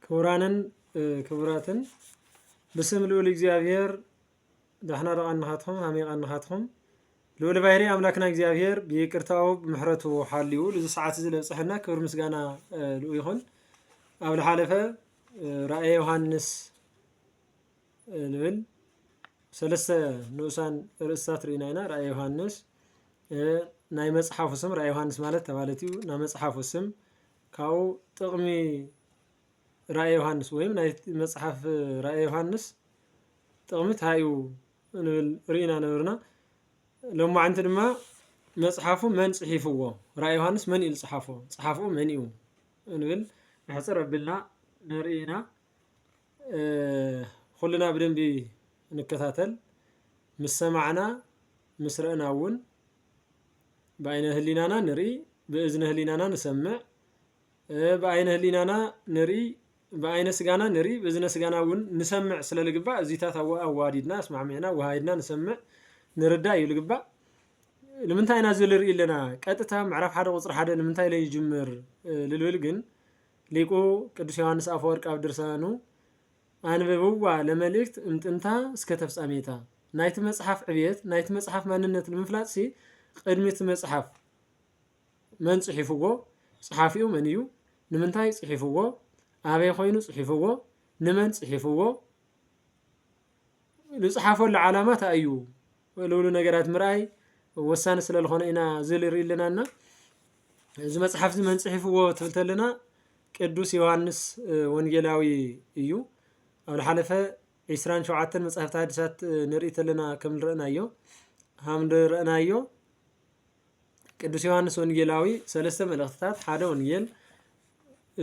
ክቡራንን ክቡራትን ብስም ልዑል እግዚኣብሔር ዳሕና ረቓንኻትኹም ሃሜቓንኻትኹም ልዑል ባህሪ ኣምላክና እግዚኣብሔር ብይቅርታኡ ብምሕረቱ ሓልዩ ልዚ ሰዓት እዚ ለብፅሐና ክብር ምስጋና ልኡ ይኹን ኣብ ዝሓለፈ ራእየ ዮሃንስ ንብል ሰለስተ ንኡሳን ርእስታት ርኢና ኢና ራእየ ዮሃንስ ናይ መጽሓፉ ስም ራእየ ዮሃንስ ማለት ተባለት እዩ ናይ መጽሓፉ ስም ካብኡ ጥቕሚ ራእየ ዮሃንስ ወይም ናይ መጽሓፍ ራእየ ዮሃንስ ጥቕሚ እንታይ እዩ ንብል ርኢና ነበርና ሎማዕንቲ ድማ መጽሓፉ መን ጽሒፍዎ ራእየ ዮሃንስ መን እዩ ዝጽሓፎ ጸሓፍኡ መን እዩ ንብል ንሕፅር ኣቢልና ንርኢ ኢና ኹልና ብደንቢ ንከታተል ምስ ሰማዕና ምስ ረእና እውን ብኣይነ ህሊናና ንርኢ ብእዝነ ህሊናና ንሰምዕ ብኣይነ ህሊናና ንርኢ ብኣይነ ስጋና ንርኢ ብእዝነ ስጋና እውን ንሰምዕ ስለ ልግባእ እዚታት ኣዋዲድና ኣስማዕሚዕና ወሃይድና ንሰምዕ ንርዳእ እዩ ልግባእ ንምንታይ ኢና እዚ ንርኢ ኣለና ቀጥታ ምዕራፍ ሓደ ቁፅሪ ሓደ ንምንታይ ለይጅምር ልብል ግን ሊቁ ቅዱስ ዮሓንስ ኣፈወርቅ ኣብ ድርሳኑ ኣንብብዋ ለመልእክት እምጥንታ እስከ ተፍጻሜታ፣ ናይቲ መጽሓፍ ዕብየት ናይቲ መጽሓፍ ማንነት ንምፍላጥሲ ቕድሚ እቲ መጽሓፍ መን ጽሒፍዎ፣ ጸሓፊኡ መን እዩ፣ ንምንታይ ጽሒፍዎ፣ ኣበይ ኮይኑ ጽሒፍዎ፣ ንመን ጽሒፍዎ፣ ዝጽሓፈሉ ዓላማ ታይ እዩ፣ ልብሉ ነገራት ምርኣይ ወሳኒ ስለ ዝኾነ ኢና እዚ ንርኢ ኣለና እና እዚ መፅሓፍ እዚ መን ፅሒፍዎ ትብል ተለና ቅዱስ ዮሃንስ ወንጌላዊ እዩ ኣብ ዝሓለፈ ዒስራን ሸውዓተን መፅሓፍቲ ሓዲሳት ንርኢ ተለና ከም ንረእናዮ ሃም ንረእናዮ ቅዱስ ዮሃንስ ወንጌላዊ ሰለስተ መልእኽትታት ሓደ ወንጌል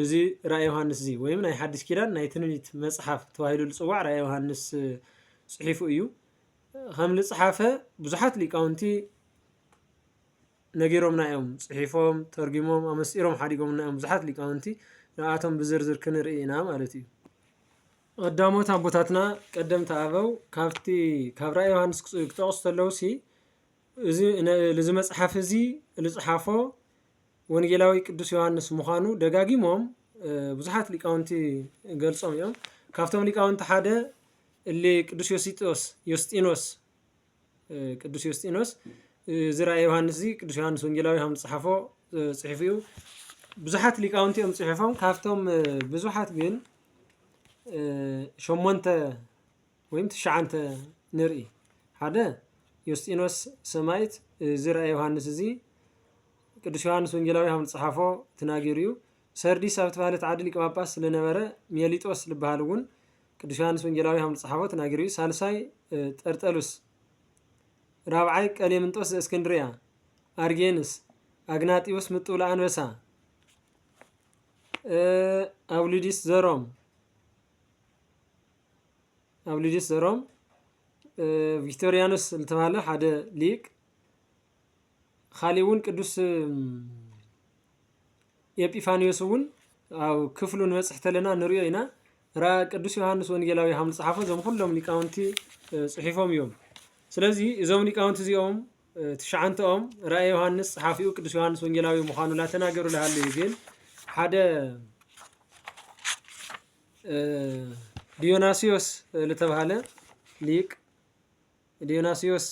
እዚ ራእይ ዮሃንስ እዚ ወይም ናይ ሓዲስ ኪዳን ናይ ትንቢት መፅሓፍ ተባሂሉ ዝፅዋዕ ራእይ ዮሃንስ ፅሒፉ እዩ ኸም ልጽሓፈ ብዙሓት ሊቃውንቲ ነጊሮምና እዮም ጽሒፎም ተርጊሞም ኣመስጢሮም ሓዲጎምና እዮም ብዙሓት ሊቃውንቲ ንኣቶም ብዝርዝር ክንርኢ ኢና ማለት እዩ ቀዳሞት ኣቦታትና ቀደምቲ ኣበው ካብቲ ካብ ራእይ ዮሃንስ ክጠቕሱ ተለዉ ሲ እዚ እዚ መጽሓፍ እዚ ዝጽሓፎ ወንጌላዊ ቅዱስ ዮሃንስ ምዃኑ ደጋጊሞም ብዙሓት ሊቃውንቲ ገልጾም እዮም ካብቶም ሊቃውንቲ ሓደ እሊ ቅዱስ ዮሲጦስ ዮስጢኖስ ቅዱስ ዮስጢኖስ እዚ ራእየ ዮሃንስ እዚ ቅዱስ ዮሃንስ ወንጌላዊ ከም ዝፅሓፎ ፅሒፉ እዩ ብዙሓት ሊቃውንቲ እዮም ፅሒፎም ካብቶም ብዙሓት ግን ሸሞንተ ወይም ትሽዓንተ ንርኢ ሓደ ዮስጢኖስ ሰማይት እዚ ራእየ ዮሃንስ እዚ ቅዱስ ዮሃንስ ወንጌላዊ ከም ዝፅሓፎ ተናጊሩ እዩ ሰርዲስ ኣብ ተባህለት ዓዲ ሊቀ ጳጳስ ስለነበረ ሜሊጦስ ዝበሃል እውን ቅዱስ ዮሓንስ ወንጌላዊ ከም ዝጸሓፎ ተናጊሩ እዩ ሳልሳይ ጠርጠሉስ ራብዓይ ቀሌምንጦስ ዘእስክንድርያ ኣርጌንስ ኣግናጢዎስ ምጥውላ ኣንበሳ ኣውሊዲስ ዘሮም ኣውሊዲስ ዘሮም ቪክቶሪያኖስ ዝተባሃለ ሓደ ሊቅ ኻሊእ እውን ቅዱስ ኤጲፋንዮስ እውን ኣብ ክፍሉ ንበፅሕ ተለና ንሪኦ ኢና ራ ቅዱስ ዮሃንስ ወንጌላዊ ሃም ዝፀሓፎ እዞም ኩሎም ሊቃውንቲ ፅሒፎም እዮም ስለዚ እዞም ሊቃውንቲ እዚኦም ትሽዓንተኦም ራእየ ዮሃንስ ፀሓፊኡ ቅዱስ ዮሃንስ ወንጌላዊ ምዃኑ ላተናገሩ ላሃለዩ ግን ሓደ ዲዮናስዮስ ዝተባሃለ ሊቅ ዲዮናስዮስ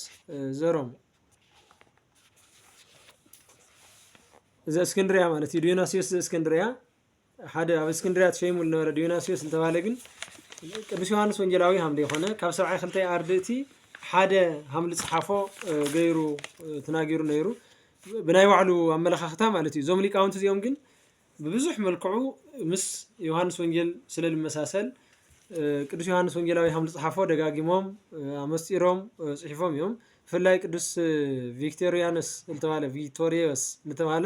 ዘሮም ዘእስክንድርያ ማለት እዩ ዲዮናስዮስ ዘእስክንድርያ ሓደ ኣብ እስክንድርያ ተሸይሙ ዝነበረ ዲዮናስዮስ ዝተባህለ ግን ቅዱስ ዮሃንስ ወንጌላዊ ሃምደ ይኮነ ካብ ሰብዓይ ክልተ ኣርድእቲ ሓደ ሃምሊ ፀሓፎ ገይሩ ተናጊሩ ነይሩ ብናይ ባዕሉ ኣመለኻኽታ ማለት እዩ እዞም ሊቃውንቲ እዚኦም ግን ብብዙሕ መልክዑ ምስ ዮሃንስ ወንጌል ስለ ልመሳሰል ቅዱስ ዮሃንስ ወንጌላዊ ሃም ዝጽሓፎ ደጋጊሞም ኣመስጢሮም ጽሒፎም እዮም። ብፍላይ ቅዱስ ቪክቶሪያንስ ዝተባለ ቪክቶሪዮስ ዝተባለ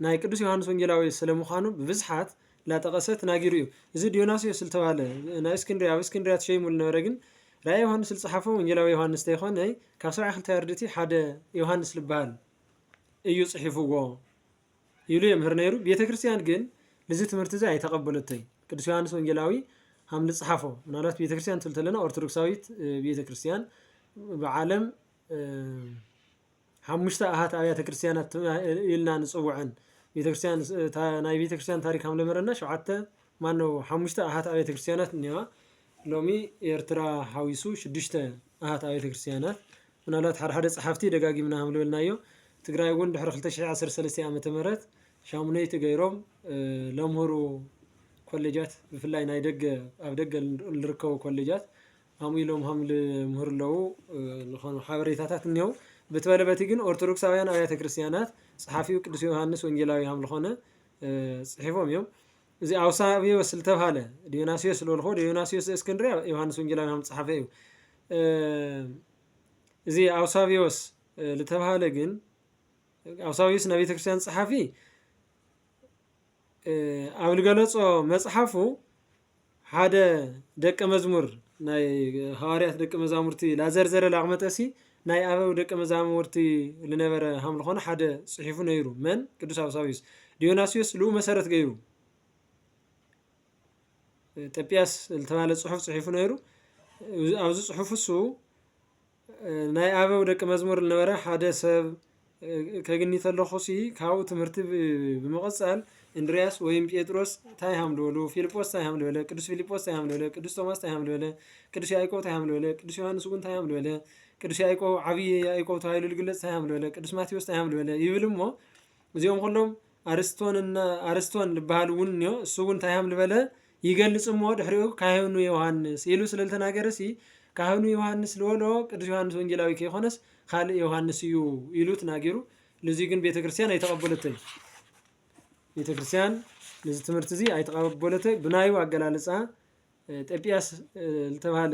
ናይ ቅዱስ ዮሃንስ ወንጌላዊ ስለ ምዃኑ ብብዝሓት ላጠቐሰ ትናጊሩ እዩ። እዚ ዲዮናስዮስ ዝተባለ ናይ እስክንድርያ ኣብ እስክንድርያ ተሸይሙ ዝነበረ ግን ራእይ ዮሃንስ ዝጸሓፎ ወንጌላዊ ዮሃንስ ተይኮነ ካብ ሰብዓ ክልተ ኣርድእቲ ሓደ ዮሃንስ ዝበሃል እዩ ጽሒፍዎ። ኢሉ የምህር ነይሩ። ቤተ ክርስቲያን ግን ንዚ ትምህርቲ እዚ ኣይተቐበለቶይ። ቅዱስ ዮሐንስ ወንጌላዊ ሃም ልጽሓፎ ምናልባት ቤተ ክርስቲያን ትብል ተለና ኦርቶዶክሳዊት ቤተ ክርስቲያን ብዓለም ሓሙሽተ ኣሃት ኣብያተ ክርስቲያናት ኢልና ንፅውዐን ቤተክርስትያን ናይ ቤተክርስትያን ታሪክ ከም ለመረና ሸውዓተ ማኖ ሓሙሽተ ኣሃት ኣብያተ ክርስቲያናት እኒዋ ሎሚ ኤርትራ ሓዊሱ ሽዱሽተ ኣሃት ኣብያተ ክርስቲያናት ምናልባት ሓደ ሓደ ጸሓፍቲ ደጋጊምና ከምልበልናዮ ትግራይ እውን ድሕሪ ክልተ ሽሕ ዓሰርተ ሰለስተ ዓመተ ምህረት ሻሙነይቲ ገይሮም ለምህሩ ኮሌጃት ብፍላይ ናይ ደገ ኣብ ደገ ልርከቡ ኮሌጃት ከምኡ ኢሎም ከም ልምህሩ ኣለዉ ዝኾኑ ሓበሬታታት እኒው በቲ በለ በቲ ግን ኦርቶዶክሳውያን ኣብያተ ክርስቲያናት ጸሓፊው ቅዱስ ዮሃንስ ወንጌላዊ ከም ዝኾነ ጽሒፎም እዮም እዚ ኣውሳቢዎስ ዝተብሃለ ዲዮናስዮስ ዝበልኮ ዲዮናስዮስ ዘእስክንድርያ ዮሃንስ ወንጌላዊ ከም ጸሓፈ እዩ እዚ ኣውሳብዮስ ዝተብሃለ ግን ኣውሳብዮስ ናይ ቤተ ክርስቲያን ጸሓፊ ኣብ ዝገለጾ መጽሓፉ ሓደ ደቀ መዝሙር ናይ ሃዋርያት ደቀ መዛሙርቲ ላዘርዘረ ላቕመጠሲ ናይ ኣበው ደቀ መዛሙርቲ ዝነበረ ሃም ዝኾነ ሓደ ጽሒፉ ነይሩ መን ቅዱስ ኣውሳብዮስ ዲዮናስዮስ ልኡ መሰረት ገይሩ ጠጲያስ ዝተባህለ ጽሑፍ ጽሒፉ ነይሩ ኣብዚ ጽሑፍ እሱ ናይ ኣበው ደቂ መዝሙር ዝነበረ ሓደ ሰብ ከግኒ ተለኹ ሲ ካብኡ ትምህርቲ ብምቕጻል እንድርያስ ወይም ጴጥሮስ እንታይ ሃም ዝበሉ ፊልጶስ እንታይ ሃም ዝበለ ቅዱስ ፊልጶስ እንታይ ሃም ዝበለ ቅዱስ ቶማስ እንታይ ሃም ዝበለ ቅዱስ ያዕቆብ እንታይ ሃም ዝበለ ቅዱስ ዮሐንስ እውን እንታይ ሃም ዝበለ ቅዱስ ያዕቆብ ዓብዪ ያዕቆብ ተባሂሉ ዝግለጽ እንታይ ሃም ዝበለ ቅዱስ ማቴዎስ እንታይ ሃም ዝበለ ይብል እሞ እዚኦም ኩሎም ኣርስቶን እና ኣርስቶን ልበሃሉ እውን እኒኦ እሱ እውን እንታይ ሃም ልበለ ይገልጽ እሞ ድሕሪኡ ካህኑ ዮሐንስ ኢሉ ስለ ልተናገረሲ ካህኑ ዮሐንስ ልበሎ ቅዱስ ዮሐንስ ወንጌላዊ ከይኮነስ ካልእ ዮሐንስ እዩ ኢሉ ትናጊሩ ልዚ ግን ቤተ ክርስቲያን ኣይተቐበለትን ቤተ ክርስቲያን ነዚ ትምህርቲ እዚ ኣይተቐበለተ ብናዩ ኣገላልፃ ጤጵያስ ዝተባሃለ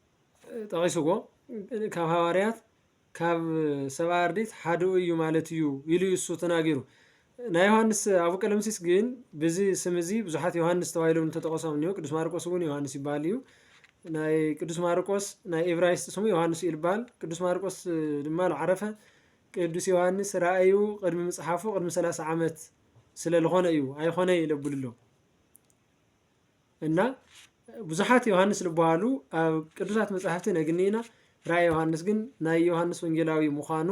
ጠቒሱዎ፣ ካብ ሃዋርያት ካብ ሰብኣ ኣርዲት ሓደኡ እዩ ማለት እዩ ኢሉ እዩ እሱ ተናጊሩ። ናይ ዮሃንስ ኣቡ ቀለምሲስ ግን ብዚ ስም እዚ ብዙሓት ዮሃንስ ተባሂሎም እንተጠቐሶም እኒሁ ቅዱስ ማርቆስ እውን ዮሃንስ ይበሃል እዩ። ናይ ቅዱስ ማርቆስ ናይ ኤብራይስጥ ስሙ ዮሐንስ እዩ ልበሃል ቅዱስ ማርቆስ ድማ ልዓረፈ ቅዱስ ዮሐንስ ራእዩ ቅድሚ ምጽሓፉ ቅድሚ 30 ዓመት ስለ ዝኾነ እዩ ኣይኾነ ይለብልሎ እና ብዙሓት ዮሃንስ ዝበሃሉ ኣብ ቅዱሳት መጻሕፍቲ ነግንይና ራእይ ዮሃንስ ግን ናይ ዮሃንስ ወንጌላዊ ምዃኑ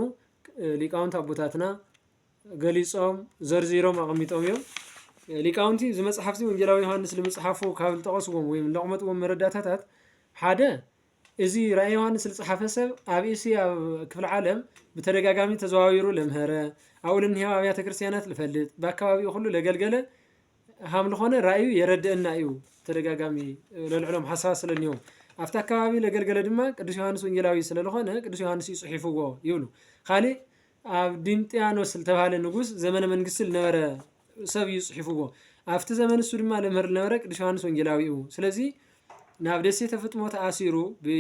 ሊቃውንቲ ኣቦታትና ገሊጾም ዘርዚሮም ኣቐሚጦም እዮም ሊቃውንቲ እዚ መጽሓፍቲ ወንጌላዊ ዮሃንስ ንምጽሓፉ ካብ ዝጠቐስዎም ወይም ለቕመጥዎም መረዳታታት ሓደ እዚ ራእይ ዮሃንስ ዝጸሓፈ ሰብ ኣብ እስያ ክፍለ ዓለም ብተደጋጋሚ ተዘዋዊሩ ለምሀረ ኣብኡ ልንሄው ኣብያተ ክርስቲያናት ልፈልጥ በኣካባቢኡ ኩሉ ለገልገለ ሃምልኾነ ራእዩ የረድእና እዩ ተደጋጋሚ ለልዕሎም ሓሳባት ስለኒዎም ኣብታ ኣከባቢ ለገልገለ ድማ ቅዱስ ዮሃንስ ወንጌላዊ ስለልኾነ ቅዱስ ዮሃንስ እዩ ጽሒፍዎ ይብሉ ካሊእ ኣብ ዲምጥያኖስ ዝተባሃለ ንጉስ ዘመነ መንግስቲ ልነበረ ሰብ እዩ ጽሒፍዎ ኣብቲ ዘመን እሱ ድማ ለምህር ልነበረ ቅዱስ ዮሃንስ ወንጌላዊ እዩ ስለዚ ናብ ደሴተ ፍጥሞ ተኣሲሩ ብ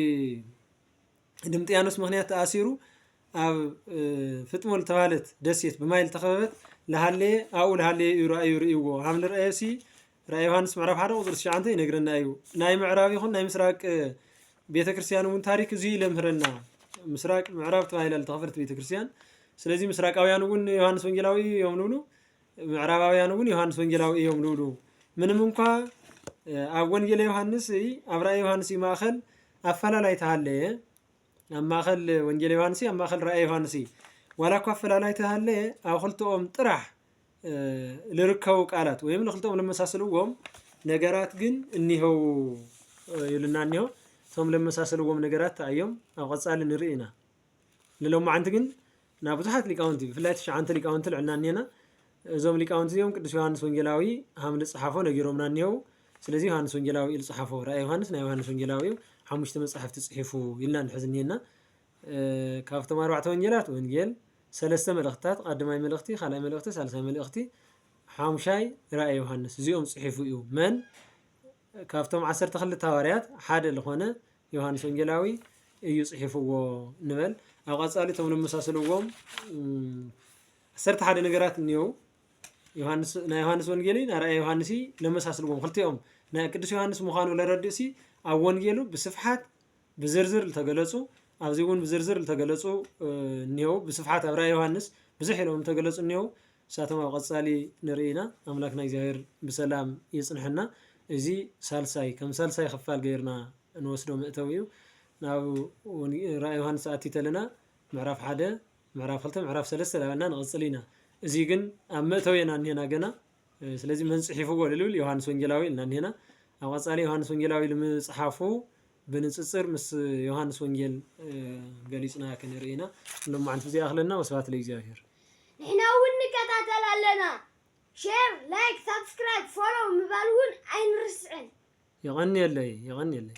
ድምጥያኖስ ምኽንያት ተኣሲሩ ኣብ ፍጥሞ ዝተባህለት ደሴት ብማይ ዝተኸበበት ለሃለየ ኣብኡ ለሃለየ እዩ ራእዩ ርእይዎ ሃብ ንርአዮሲ ራእይ ዮሃንስ ምዕራፍ ሓደ ቁፅሪ ትሽዓንተ ይነግረና እዩ ናይ ምዕራብ ይኹን ናይ ምስራቅ ቤተ ክርስቲያን እውን ታሪክ እዚ እዩ ለምህረና ምስራቅ ምዕራብ ተባሂላ ዝተኸፈለት ቤተ ክርስቲያን ስለዚ ምስራቃውያን እውን ዮሃንስ ወንጌላዊ እዮም ንብሉ ምዕራባውያን እውን ዮሃንስ ወንጌላዊ እዮም ልብሉ ምንም እንኳ ኣብ ወንጌለ ዮሃንስ ኣብ ራእየ ዮሃንስ እዩ ማእኸል ኣፈላላይ ተሃለየ ኣብ ማእኸል ወንጌለ ዮሃንስ ኣብ ማእኸል ራእየ ዮሃንስ ዋላ እኳ ኣፈላላይ ተሃለየ ኣብ ክልተኦም ጥራሕ ልርከቡ ቃላት ወይም ንክልተኦም ለመሳስልዎም ነገራት ግን እኒሀው ይብልና እኒሆ እቶም ለመሳስልዎም ነገራት እዮም ኣብ ቀፃሊ ንርኢ ኢና ንሎማዓንቲ ግን ናብ ብዙሓት ሊቃውንቲ ብፍላይ ትሽዓንተ ሊቃውንቲ ልዕልና እኔና እዞም ሊቃውንቲ እዚኦም ቅዱስ ዮሐንስ ወንጌላዊ ሃም ልጽሓፎ ነጊሮምና እኒሄው ስለዚ ዮሐንስ ወንጌላዊ ልጽሓፎ ራእይ ዮሐንስ ናይ ዮሐንስ ወንጌላዊ እዩ ሓሙሽተ መጻሕፍቲ ጽሒፉ ኢልና ንሕዚ እኒሄና ካብቶም ኣርባዕተ ወንጌላት ወንጌል ሰለስተ መልእኽትታት ቃድማይ መልእኽቲ ካልኣይ መልእኽቲ ሳልሳይ መልእኽቲ ሓሙሻይ ራእይ ዮሃንስ እዚኦም ጽሒፉ እዩ መን ካብቶም ዓሰርተ ክልተ ሃዋርያት ሓደ ዝኾነ ዮሃንስ ወንጌላዊ እዩ ጽሒፍዎ ንበል ኣብ ቐጻሊ እቶም ነመሳስልዎም ዓሰርተ ሓደ ነገራት እኒው ናይ ዮሃንስ ወንጌል ናይ ራእየ ዮሃንስ ነመሳስልዎም ክልቲኦም ናይ ቅዱስ ዮሃንስ ምዃኑ ለረድእሲ ኣብ ወንጌሉ ብስፍሓት ብዝርዝር ዝተገለጹ ኣብዚ እውን ብዝርዝር ዝተገለጹ እኒው ብስፍሓት ኣብ ራእየ ዮሃንስ ብዙሕ ኢሎም ዝተገለጹ እኒው ንሳቶም ኣብ ቐጻሊ ንርኢ ኢና ኣምላክና እግዚኣብሔር ብሰላም የጽንሐና እዚ ሳልሳይ ከም ሳልሳይ ክፋል ገይርና ንወስዶ መእተዊ እዩ ናብ ራእይ ዮሃንስ ኣቲ ተለና ምዕራፍ ሓደ ምዕራፍ ክልተ ምዕራፍ ሰለስተ ዳበልና ንቐጽል ኢና እዚ ግን ኣብ መእተዊ ኢና እኒሄና ገና ስለዚ መን ጽሒፍዎ ልብል ዮሃንስ ወንጌላዊ ኢልና እኒሄና ኣብ ቐጻሊ ዮሃንስ ወንጌላዊ ልምጽሓፉ ብንጽጽር ምስ ዮሃንስ ወንጌል ገሊጽና ክንርኢ ኢና። ንሎማዓንቲ እዚ ይኣኽለና ወስብሃት ለእግዚኣብሔር። ንሕና ውን ንከታተል ኣለና ሸር ላይክ ሳብስክራይብ ፎሎው ምባል ውን ኣይንርስዕን። የቐንየለይ የቐንየለይ።